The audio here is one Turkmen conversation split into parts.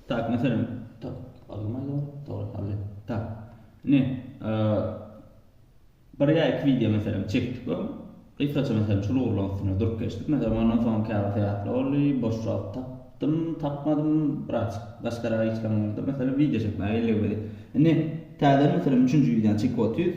Tak, meselem, tak, alynmaýar ol. Dogry, aldy. Tak. Ine, bir ýa iki wideo meselem çekdik we gysgaça meselem şul ugurlaryň üstünde durup geçdik. Meselem, ondan soň käbir sebäpler boldy, boş wagt tapdym, tapmadym, biraz başgarak işlerim boldy. Meselem, wideo çekmäge elligmedi. Ine, täzeden meselem üçünji wideony çekip otyrys.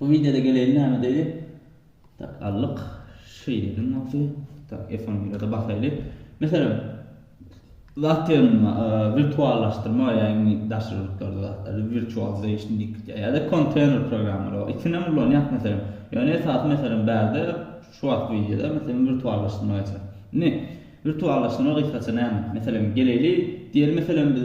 Bu wideoda geleýin näme diýdi. Tak aldyk. Şeýledim bolsa. Tak F11-de basaýly. Meselem zat ýerinde wirtuallaşdyrma ýagny daşary ýurtlarda zatlary virtualization diýip gitýär. Ýa-da konteýner programmalary bar. Ikisinem ulanýas meselem. Ýöne esasy meselem bärde şu wagt wideoda meselem wirtuallaşdyrma geçer. Indi wirtuallaşdyrma gysgaça näme? Meselem geleýli diýeli meselem biz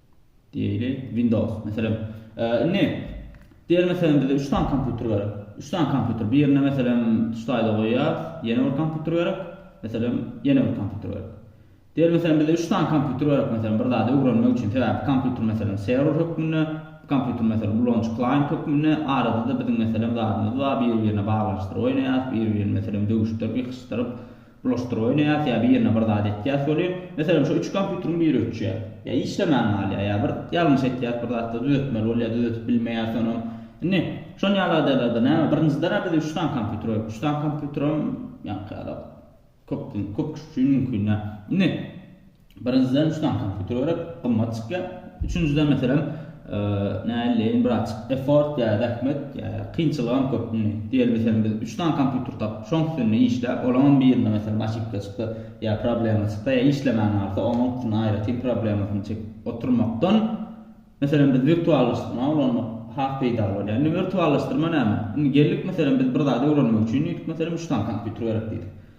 Diýeli Windows. Meselem, indi diýeli meselem bize 3 sany kompýuter gerek. 3 sany kompýuter. Birini meselem tuşdaýda goýýar, ýene bir kompýuter gerek. Meselem, ýene bir kompýuter gerek. Diýeli meselem bize 3 sany kompýuter gerek meselem bir zady öwrenmek üçin. Sebäbi kompýuter meselem serwer hökmünde, kompýuter meselem ulanyjy klaýent hökmünde, arada-da biziň meselem zadymyz bar, biri-birine baglanyşdyryp oýnaýarys, biri-birini meselem döwüşdirip, ýykyşdyryp, Bulaşdyraý näet ýa birine bir zat etýäs bolýar. Meselem şo üç kompýuteriň biri öçýär. Ýa işlemän galýar ýa bir ýalňyş etýäs bir zatda düzetmeli bolýar düzetip bilmeýäs onam. Indi şon ýaly ýagdaýlarda näme birinjidenä biz üç sany kompýuter goýup üç sany kompýuteram ýaňky ýala köp köp kişi üçin mümkin däl. Indi Birinjiden üçden kompýuter gerek, gymmat çykýar. Üçünjiden meselem, näleýin birazjyk effort ýa zähmet, ýa kynçylygam köp. Indi diýeli meselem biz üç dan kompýuter tapyp, şoň üstünde işläp, olaňam birinde meselem oşipka çyksa, ýa problema çyksa, ýa işlemän galsa, onuň üstünde aýratyn problemasyny çekip oturmakdan, meselem biz wirtuallaşdyrma ulanmak has peýdaly bolýar. Indi wirtuallaşdyrma näme? Indi geldik meselem biz bir zady öwrenmek üçin diýdik meselem üç dan kompýuter gerek diýdik.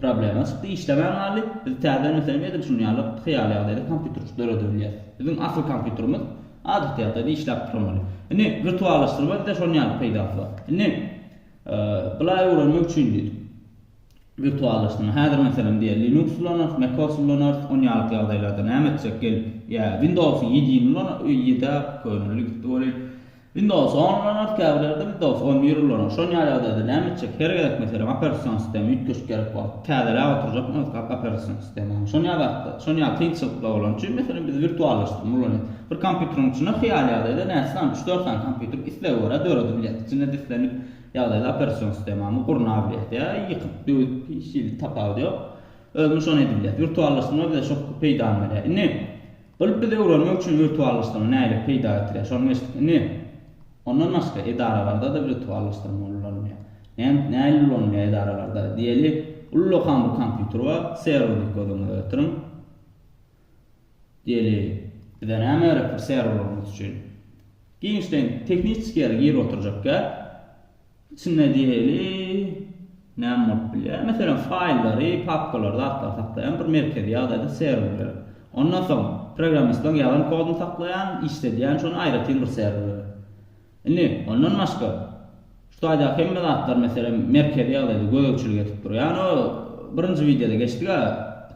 Problema çykdy, işlemän galdy. Biz täzeden meselem edil şuny ýaly hyýaly ýagdaýda kompýuterçik döredebilýäs. Biziň asyl kompýuterimiz adaty ýagdaýda işläp durmaly. Indi wirtuallaşdyrma bizde şonuň ýaly peýdasy bar. Indi bulaý öwrenmek üçin diýdik. Wirtuallaşdyrma. Häzir meselem diýeli Linux ulanarys, MacOS ulanarys, ony ýaly ýagdaýlarda näme etjek gelip? Ýa Windows ýedini ulanarys, ýedi-ä könelik gitdi welin. Windows on ulan oktýabrlerde Windows on bir ulanyň. Şol ýaly ýagdaýda näme etjek? Her gezek meselem operasion sistemi üýtgeşik gerek bolup, täzeläp oturjakmy öz operasion sistemany? Şony ýazatda, şony ýaly kynçylyklar bolan üçin, meselem biz wirtuallaşdyrma ulanýas. Bir kompýuteriň içinde hyýaly ýagdaýda näçe sany, üç-dört sany kompýuter islege görä döredi bilýäs. Içinde dislenik ýagdaýda operasion sistemany gurna bilýäs ýa ýykyp, döwüp, hiç hili tapawudy ýok. Özümiz şony edibilýäs. Wirtuallaşdyrma bize şo peýdany berýär. Indi. Gylyp biz öwrenmek üçin wirtuallaşdyrma nähili peýda getirýär şony geçdik indi ondan başga edaralardada wirtuallaşdyrma ulanylýar näme nähili ulanylýar edaralarda diýeli ullakan bir kompýuter bar serwer diýip göz öňüňize getiriň diýeli bize näme gerekdir serwer gurmak üçin giňişleýin tehniçeskiýa girip oturjak gäp Içinde diýeli, näme bolup bilýär? Meselem, faýllary, papkalary, zatlary saklaýan bir merkezi ýagdaýda serwerler. Ondan soň, programmistlaň ýazan kodyny saklaýan, işledýän şony aýratyn bir serwerler. Indi, ondan başga, şu taýdaky hemme zatlar, meselem, merkezi ýagdaýda gözegçilik edip durýan, o, birinji wideoda geçdik-ä,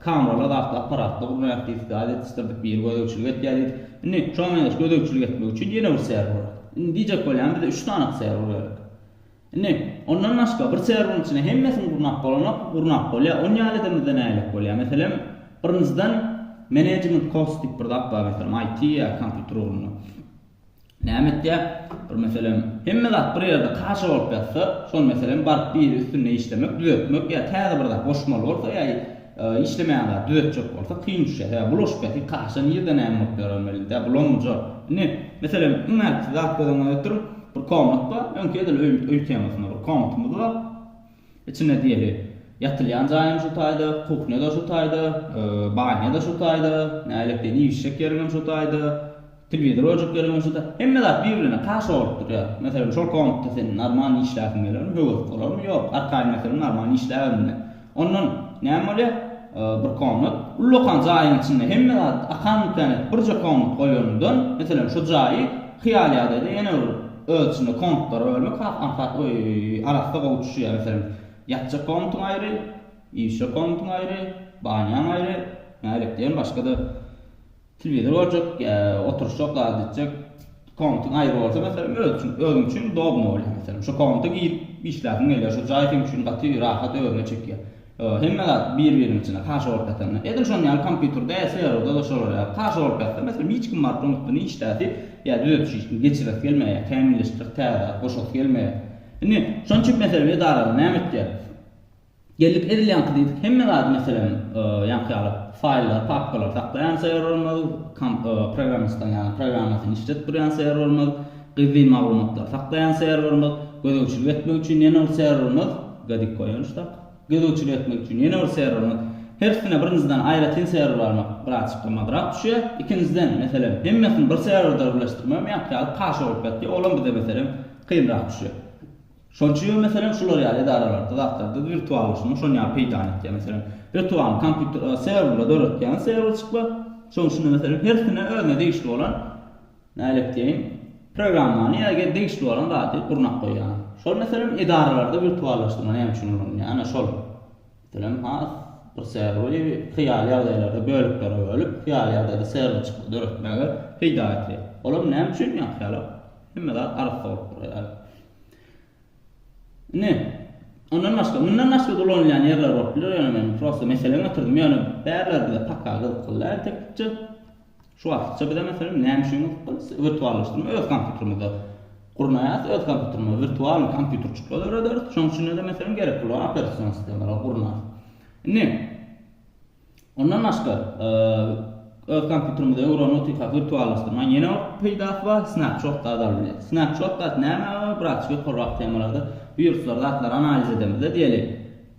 Kamerler artly apparatlar gurnaýarys diýdik, gaz ýetişdirdik, biri gözegçilik etýär diýdik. Indi şoňa meňzeş gözegçilik etmek üçin ýene bir çäre guralyň. Indi diýjek bolýan bize üç sany çäre guraýalyň. Indi ondan başga bir çärwüň içinde hemmesini gurnap bolanok, gurnap bolýar. Ony ýaly edemizde nähilek bolýar? Meselem, birinjiden, management course diýip bir zat bar, meselem, IT ýa kompýuter ugrunda. Näme etýär? Bir meselem, hemme zat bir ýerde kaşa bolup ýatsa, şol meselem baryp biri üstünde işlemek, düzetmek ýa täze bir zat goşmaly bolsa ýa işlemeýän zady düzetjek bolsa kyn düşýär. Sebäbi bulaşyp ýatyr, kaşa nirde näme bolup ýörer belli-dä, bulanmyjak. Indi, meselem, iň ähti zat göz öňüňe getiriň, bir komnat bar, öňki edil öý öý temasynda bir komnatymyz bar. Içinde diýeli, ýatylýan jaýam şu taýda, kuhnýa-da şu taýda, banýa-da şu taýda, nälektýän iýişjek ýeriňem şu taýda, telewizor goýjak ýeriňem şu taýda. Hemme zat bir-birine kaşa bolup durýar. Meselem, şol komnatda sen normal işläsiň gelermi, höwes bolarmy? Ýok. Arkaýyn meselem normal işläberin-de. Ondan näme bolýar? Bir komnat, ullakan jaýyň içinde hemme zat akan-mükan edip birje komnat goýanyňdan, meselem, şu jaýy hyýal ýagdaýda ýene bir öz içinde komnatlara bölmek has aňsat we arassa gowy düşýär. Meselem, ýatjak komnatyň aýry, iýişjek komnatyň aýry, banýaň aýry, nädip diýen başga-da telewizor görjek ýa oturyşjak zady etjek komnatyň aýry bolsa meselem öz üçin özüň üçin udobno bolýar. Meselem, şo komnata girip işläsiň gelýär, şo jaý seň üçin gaty rahat özüne çekýär. Hemme zat bir-biriniň içinde, kaşa bolup ýatanda. Edil şonuň ýaly kompýuterde, serwerde-de şolar ýaly. Kaşa bolup ýatsa, meselem, hiç kim baryp onuň üstüne işläsi ýa düzedişi hiç kim geçiresi gelmeýär, kämilleşdirip täze zat goşasy gelmeýär. Indi, şonuň üçin, meselem, edarada näme etýäris? Geldik, edil ýaňky diýdik, hemme zady, meselem, ýaňky ýaly faýllary, papkalary saklaýan serwerimiz, programmistiň ýaly programmasyny işledip durýan serwerimiz, Gizlin maglumatlary saklaýan serwerimiz, gözegçilik etmek üçin ýene bir serwerimiz, Gadik Koýanç tak, gözegçilik etmek üçin ýene bir serwerimiz. Hersine birinjiden aýratyn serwer almak birazjyk gymmatrak düşýär. Ikinjiden, meselem, hemmesini bir serwerde birleşdirmegem ýaňky ýaly kaşa bolup ýatýar, olam bize, meselem, kynrak düşýär. Şonuň üçin hem, meselem, şular ýaly edaralarda, zatlarda wirtuallaşmak şonuň ýaly peýdany etýär. Meselem, wirtualyny kompýuter, serwerleri döretýän serwerçikler, şonuň üçin-de, meselem, hersine özüne degişli bolan Nähili etdigiň? Programmany ýa-ge degişli bolan zady gurnap goýýan. Şol meselem edaralarda wirtuallaşdyrma näme üçin ulanylýar? Ana şol. Meselem has bir serweri hyýaly ýagdaýlarda böleklere bölüp, hyýaly ýagdaýda serwer çykdy döretmege peýda ýetir. Olam näme üçin ýa hyýala? Hemme zat arassa bolup durar ýaly. Indi ondan başga, mundan başga-da ulanylýan ýerler bolup biler, ýöne men prosta mesele götürdüm, ýöne bärler bize paka gyzykly däl teknikçe. Şu wagtça bize meselem näme üçin gyzyk biz wirtuallaşdyrma öz kompýutermizde gurnaýarys, öz kompýuterimize wirtualnyý kompýuterçikler dörederis, şonuň üçin-de meselem gerek bolan operasion sistemalary gurnarys. Indi ondan başga öz kompýuterimize öwren otyrkak wirtuallaşdyrmaň ýene bir peýdasy bar, snapshotlar alyp bilýäris. Snapshotlar näme? Bratçik ýokarrak temalarda wiruslar, zatlar analiz edemizde diýeli.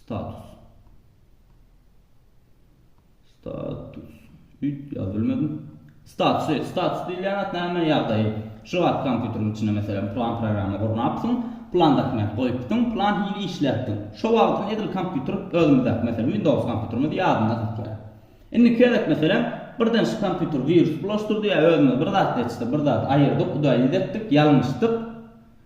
Status. Status. Üýt ýazyp bilmedim. Statusy. Status diýilýän zat näme? Ýagdaýy. Şu wagt kompýuteriň içinde meselem plan programma gurnapsyň, plan dokument goýupsyň, plan hili işläpsiň. Şo wagtyň edil kompýuter özümizdäki meselem Windows kompýuterimiz ýadynda saklaýar. Indiki gezek meselem birden şu kompýuter wirus bulaşdyrdy ýa özümiz bir zat seçdik, bir zat aýyrdyk, udaýyz etdik, ýalňyşdyk.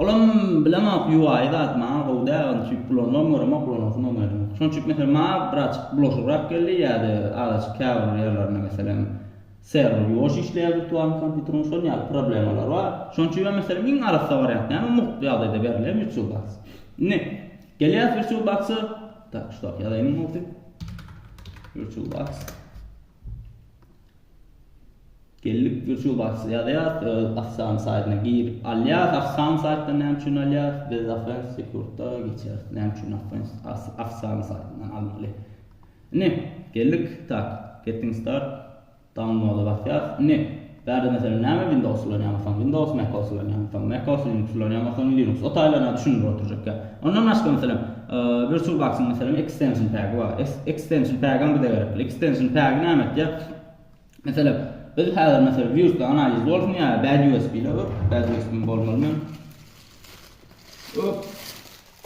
Olam bilemok UI zat maňa gowy däl onçilik bulanmam görem ok bulanasym bolmaýar indi. Şonçilik meselem maňa birazjyk bulaşygrak geldi ýa-da azajyk käbir ýerlerinde meselem serwer ýuwaş işleýär wirtualny kompýuteriň şol ýaly problemalar bar. Şonçilik hem meselem iň arassa wariant näme mugt ýagdaýda berilýän virtual box. Indi gelýäs virtual box-a. Tak şudak ýazaýyn mugt. Virtual box. Geldik YouTube aç ýazýas öz Assan saýtyna girip alýas Assan saýtdan näme üçin alýas biz Afens sekurtda geçýäs näme üçin Afens Assan saýtyndan almaly ine geldik tak getting start downloada basýas ine Bärde meselem näme windows ulanýamykaň windows macos ulanýamykaň macos linux ulanýamykaň linux o taýlaryna düşündirip oturjakka ondan başga meselem virtual box yň meselem extension pegi bar extension pegem bize gerekli extension pegi näme etýär meselem biz häzir meselem virus analiz bolsun ýa bad usb ile bad usb bolmaly men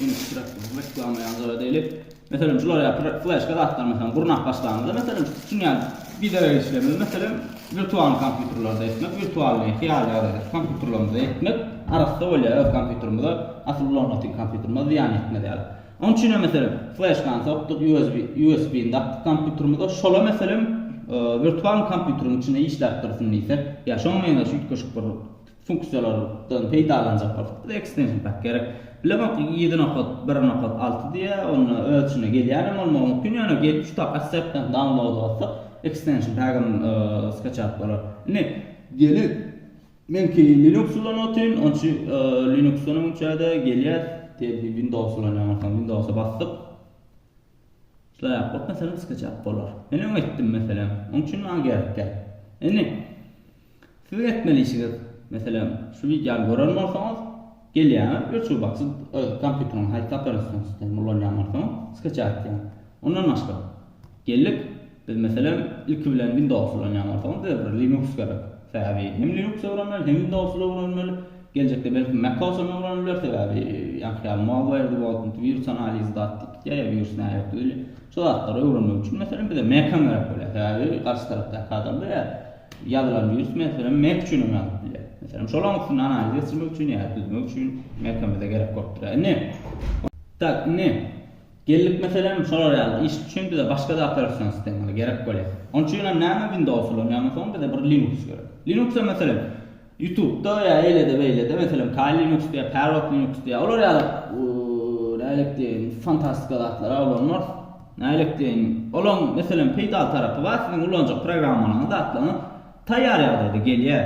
Indi iki zatdan reklama ýaly zat edäýlik. Meselem, şular ýaly fleşka zatlar meselem gurnap başlanyňda, meselem, şuny ýaly biderek işlemeli, meselem, wirtual kompýuterlerde etmek, wirtualnyý, hyýaly ýagdaýda kompýuterlerimizde etmek arassa bolýar öz kompýuterimize, asyl bloknotiň kompýuterimize zyýan ýetmez ýaly. Onuň üçin hem meselem, fleşkany sokduk, USB, USB-ni dakdyk kompýuterimize, şola meselem, wirtual kompýuteriň içinde işläp dursun diýsek, ýa şoňa meňzeş üýtgeşik bir funksiýalardan peýdalanjak bolsak, bize ekstension pak gerek. Bilemok, ýedi nokat, bir nokat alty diýýär, onda öz içine gelýän hem bolmagy mümkin, ýöne gelip şu tabka assetden download bassak, ekstension pagam skaçat bolar. Indi gelin, meňki linux ulan otyn, on üçin linuxdan öň üçäde gelýär, diýeli ki windows ulanýan bolsaň, windowsa basdyk, şulaý ýapyp, meselem skaçat bolar. Men öň etdim meselem, oň üçin maňa gerek däl. Indi Siziň etmeli işiňiz, meselem, şu wideony gören bolsaňyz, gelýäňiz, öçübaçy öz kompýuteriňizi haýsy operasion sistema ulanýan bolsaňyz, skaça atýaň. Ondan başga, geldik, biz meselem, ilki bilen Windows ulanýan bolsaňyz, bize bir Linux gerek. Sebäbi hem Linux öwrenmeli, hem Windows öwrenmeli. Geljekde belki Mac-os hem öwrenip bileris, sebäbi ýaňky ýaly malware-di bolsun, wirus analizi zat diýipdi, ýa wirus näme ýokdy, şo zatlary öwrenmek üçin meselem bize Mac-am gerek bolýar. Sebäbi garşy tarapdaky adam bize Ýazylan wirus, meselem, Mac üçin hem ýazylyp bilýär. Meselem, şolaryň üstünde analiz geçirmek üçin ýa düzmek üçin Mac-a bize gerek bolup durýar. Indi, tak, indi geldik, meselem, şolar ýaly iş üçin bize başga-da operation sistemalar gerek bolýar. Onuň üçin hem näme Windows ulanýarmysoň, bize bir Linux gerek. Linux-a, meselem, Ýutubda ýa eýlede beýlede meselem Kali Linux diýýär, Parrot Linux diýýär. Olar ýaly nählik deýin fantastika zatlara ulanmarys. Nählik deýin olaň meselem peýdaly tarapy bar siziň ulanjak programmalaryňyz zatlaryňyz taýýar ýagdaýda gelýär.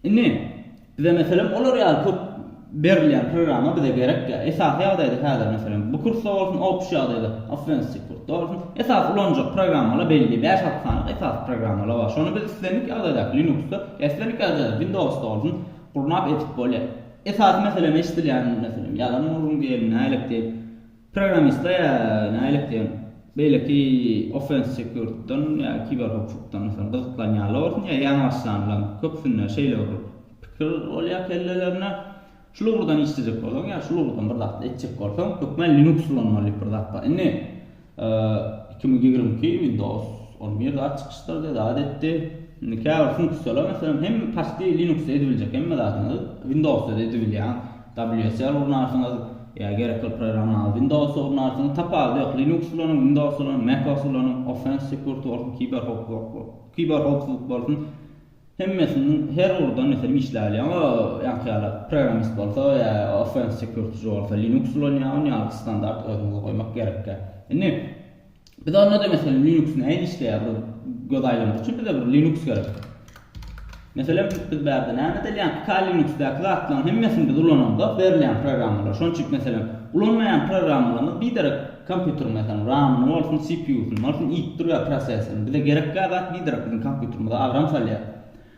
Indi bize meselem olar ýaly köp Berilýän programma bize gerek ýa esasy ýagdaýda häzir meselem bu kursda bolsun opşi ýagdaýda offensiw kursda bolsun esasy ulanjak programmalar belli bäş alty sany esasy programmalar bar şony biz islendik ýagdaýdaky linuksda ýa islendik ýagdaýda windowsda bolsun gurnap edip bolýar esasy meselem eşdilýän meselem ýalan urgun geldi nälik diýip Programmistler ýa nälet diýeň, beýleki offense security-dan ýa kiberhowpsuzlykdan mysal gyzyklanýanlar bolsun ýa ýaňy başlanlaň, köpüsinde şeýle bir pikir bolýar kellelerine. Şul ugurdan işlejek bolsaň ýa şul ugurdan bir zat etjek bolsaň, hökman Linux ulanmaly diýip bir zat bar. Indi iki müň ýigrimi iki Windows on bir zat çykyşdyrdy, zat etdi. Indi käbir funksiýalar, meselem, hem paçti Linux-da edibiljek hemme zadyňyzy Windows-da-da edibilýäň. WSL ulanarsyňyz ýa gerek kylp programmany Windows-a ulanarsyňyz, tapawudy ýok. Linux ulanyň, Windows ulanyň, Mac-os ulanyň, Offense Security bolsun, Kiberhowpsuzlyk bolsun, hemmesiniň her ugurdan meselem işläp bilýär. Emma ýaňky ýaly programmist bolsa ýa Offense Security-çi bolsa Linux ulanýar, ony ýaňky standart özüňize goýmak gerekkä. Indi. Biz onda-da meselem Linux nähili işleýär? Bir göz aýlamak üçin bize bir Linux gerek. Meselem, biz bärde näme edilýän? Kali Linux-daky zatlaryň hemmesini biz ulananda berilýän programmalar. Şonuň üçin meselem, ulanmaýan programmalarymyz biderek kompýuteriň meselem RAM-yny bolsun, CPU-syny bolsun iýip dur ýa prosesoryny. Bize gerekgä zat biderek biziň kompýuterimize agram salýar.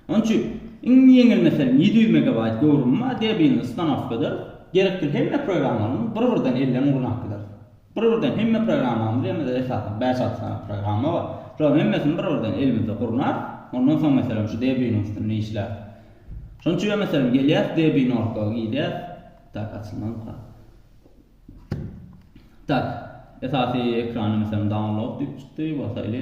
Onuň üçin iň ýeňil meselem ýedi ýüz megabaýt göwrümi bar, debilni ustanowka ederis. Gerekli hemme programmalaryň bir-birden elden ugruna alyp bileris. Bir-birden hemme programmamyz diýen bizde esasan bäş-alty sany programma bar. Şolaryň hemmesini bir-birden elimizde gurnap, ondan soň meselem şu Debian-yň üstünde işläp. Şonuň üçin meselem gelýäs Debian.org-a girýäs. Tak açylmazmyka? Tak. Esasy ekranda meselem download diýip çykdy, basaýly.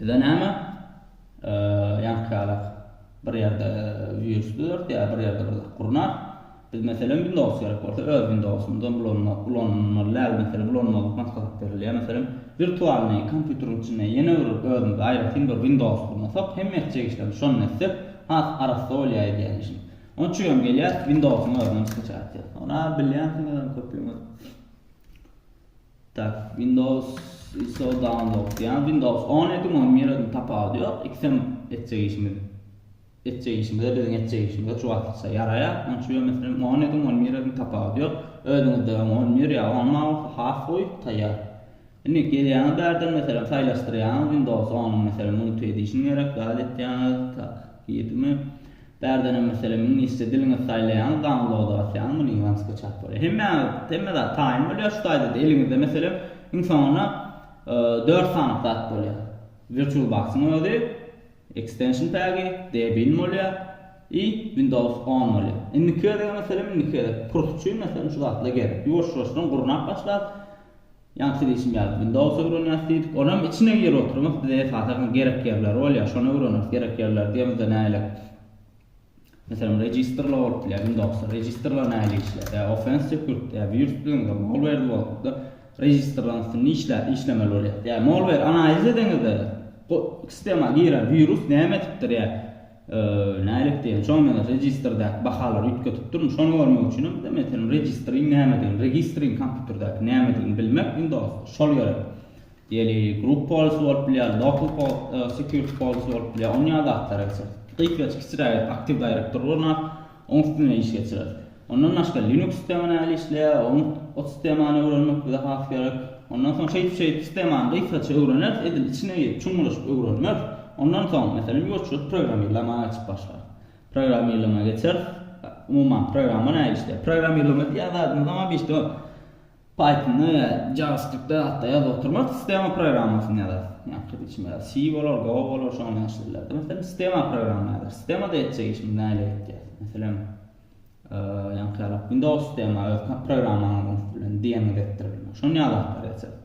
Bize näme? Ýankýalak bir ýerde wirus düzertýär, bir ýerde bir zat gurnar. Biz meselem Windows gerek bolsa öz Windowsymyzdan ulanmak, ulanmaly däl meselem ulanmazlyk maslahat berilýär. Meselem wirtualnyý kompýuteriň içinde ýene bir özümize aýratyn bir Windows gurnasak, hemme etjek işlerimizi şondan etsek has arassa bolýar edýän işimiz. Onuň üçin hem gelýär Windowsyň özünden skachat edýär. Ony bilýänsiňizem köpüňiz. Tak windows iso download diýýän windows on ýedi munuň nireden tapawudy ýok ikisem etjek işimiz etjek işimize biziň etjek işimize şu wagtça ýaraýar onuň üçin ýöne meselem on ýedi on nireden tapawudy ýok özüňizde on bir ýa on alty has gowy taýýar indi gelýäňiz bärden meselem saýlaşdyrýaňyz windows on meselem multi edişin gerek zat etýäňiz tak ýedimi Bärdenem meselem iňlisçe diliňiz saýlaýaňyz download basýaňyz muny ýaňy skaçat bolýar. Hemmäňiz hemme zat taýyn bolýar şu taýda da eliňizde meselem iň soňunda dört sany zat bolýar. Virtual boxyň özi, extension pegi, Debian bolýar i Windows on bolýar. Indiki gezegem meselem indiki gezek kurs üçin meselem şu zatlar gerek. Ýuwaş-ýuwaşdan gurnap başlar. Ýaňky diýşim ýaly Windows öwrenýäs diýdik, olam içine girip oturmys, bize esasan gerek ýerleri bolýar, şony öwreneris, gerek ýerleri diýemizde nälik, meselem registerler bolup bilýär, Windowsda registerler nähili işleýär, ýa offense security, ýa wirus düzeniňizde malware bolupdyr, registerleriň üstünde işläp, işlemeli bolýar, ýa malware analiz edeňizde, sistema giren wirus näme etipdir, ýa. Nälik diýen. Şoňa meňzeş registrdäki bahalary üýtgetip durun. Şony görmek üçinem de meselem registriň nämedigini, registriň kompýuterdäki nämedigini bilmek Windowsda şol gerek. Ýeli group policy bolup bilýär, local security policy bolup bilýär. Onýa zatlara geçeris. Gyýklyja kiçiräk Active Directory gurnar. Oň üstünden iş geçirer. Ondan başga Linux sistema nähili işleýär, oň o sistemany öwrenmek bize has gerek. Ondan soň şeýdip şeýdip sistemany gysgaça öwreneris, edil içine girip çuňlaşyp öwrenmeris. Ondan soň, meselem, ýuwaşjyk programmirlamaga geçip başlarys. Programmirlama geçeris. Umuman programma nähili işleýär? Programmirlama diýýän zadymyz oňa bir Pythonda ýa JavaScriptde zat-da ýazyp oturman, sistema programmasyny ýazarys. Ýa-da içme, C bolar, Go bolar, şony ýazyp bilerdi. Meselem, sistema programma ýazar. Sistemada etjek işimiz näle etjek? Meselem, ýa-da Windows sistema öz programmalaryny bilen diýeniňizi etdirip bilmek. Şony ýazyp oturýarsyňyz.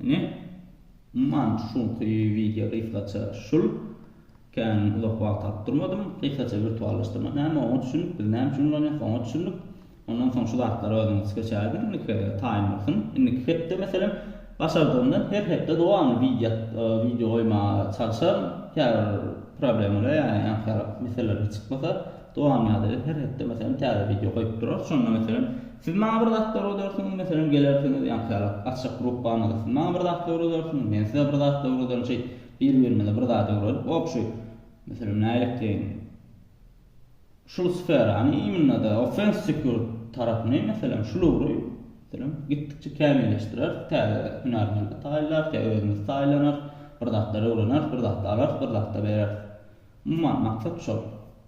Ine, umuman, şuňky wideo gysgaça şul. Kän uzak wagt alyp durmadym. Gysgaça wirtuallaşdyrmak näme, oňa düşündik, biz näme üçin ulanýarys, oňa düşündik. Ondan soň şu zatlary özüňiz seçäýdiň, indiki taýyn bolsun. Indiki hepde, meselem, başardygymdan her hepde dowamly wideo wideo goýmaga çalyşaryn. Käbir problemalar, ýa-da ýaňky ýaly meseleler çykmasa. Dowamyada biz her hepde meselem täze wideo goýup durarys. Şonda meselem siz maňa bir zatlar öwredersiňiz, meselem gelersiňiz, ýa-da käwagt gaçjak grupbamyzda siz maňa bir zatlar öwredersiňiz, men size bir zatlar öwrederin, şeýdip bir-birimize bir zat öwredip obşi, meselem nälekteyini, şul sferany immnada offense security tarapyny meselem şul ugry meselem gitdikçe kämilleşdireris, täze hünärmenler taýynlarys ýa özümiz taýynlanarys, bir zatlar öwreneris, bir zatlar alarys, bir zatlar bereris. Umuman maksat şol.